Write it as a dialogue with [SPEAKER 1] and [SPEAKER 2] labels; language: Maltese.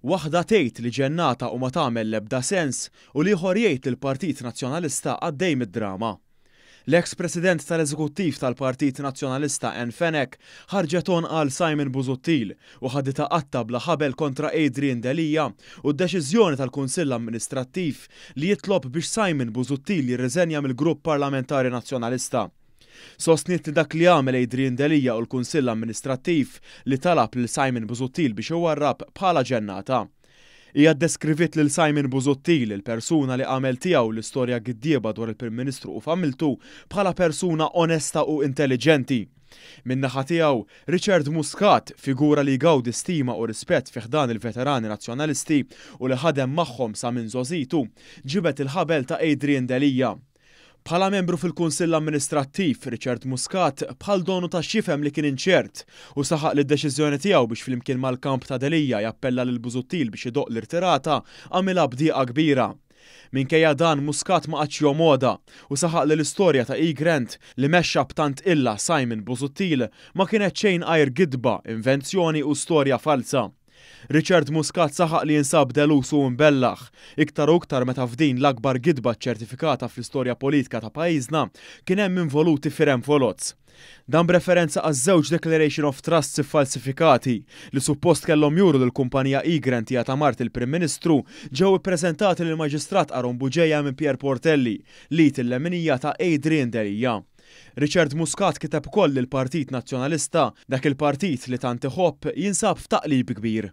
[SPEAKER 1] Waħda tgħid li ġennata u ma tagħmel l-ebda sens u l-ieħor jgħid li l-Partit Nazzjonalista għaddej mid-drama. L-eks President tal-Eżekuttiv tal-Partit Nazzjonalista Anne Fenech ħarġet għonqha għal Simon Busuttil u ħaditha qatta bla ħabel kontra Adrian Delia u d-deċiżjoni tal-Kunsill Amministrattiv li jitlob biex Simon Busuttil jirriżenja mill-Grupp Parlamentari Nazzjonalista. Sostniet li dak li għamel Adrian Delia u l-Kunsill Amministrattiv li talab lil Simon Busuttil biex iwarrab bħalha ġennata. Hija ddeskriviet lil Simon Busuttil, il-persuna li għamel tiegħu l-istorja giddieba dwar il-Prim Ministru u familtu, bħala persuna onesta u intelliġenti. Min-naħa tiegħu, Richard Muscat, figura li jgawdi stima u rispett fi ħdan il-veterani Nazzjonalisti u li ħadem magħhom sa minn żgħożitu, ġibed il-ħabel ta' Adrian Delia. Bħala membru fil-Kunsill Amministrattiv, Richard Muscat, bħal donu ta x'jifhem li kien inċert u saħaq li d-deċiżjoni tiegħu biex flimkien mal-kamp ta' Delia jappella lil Busuttil biex idoqq l-irtirata għamilha b'dieqa kbira. Minkejja dan Muscat ma qagħadx jomgħodha u saħaq li l-istorja ta' eGrant, li mexxa b'tant qilla Simon Busuttil, ma kienet xejn għajr gidba, invenzjoni u storja falza. Richard Muscat saħaq li jinsab delus u mbellah, iktar u iktar meta f'din l-akbar gidba ċċertifikata fl-istorja politika ta' pajjiżna kien hemm involuti fir-envelots. Dan b'referenza għaż-żewġ declaration of trusts iffalsifikati li suppost kellhom juru li l-kumpanija Egrant hija ta' mart il-Prim Ministru ġew ippreżentati lill-Maġistrat Aaron Bugeja minn Pierre Portelli, l-id il-leminija ta' Adrian Delia. Richard Muscat kiteb ukoll li l-Partit Nazzjonalista, dak il-partit li tant iħobb, jinsab f'taqlib kbir.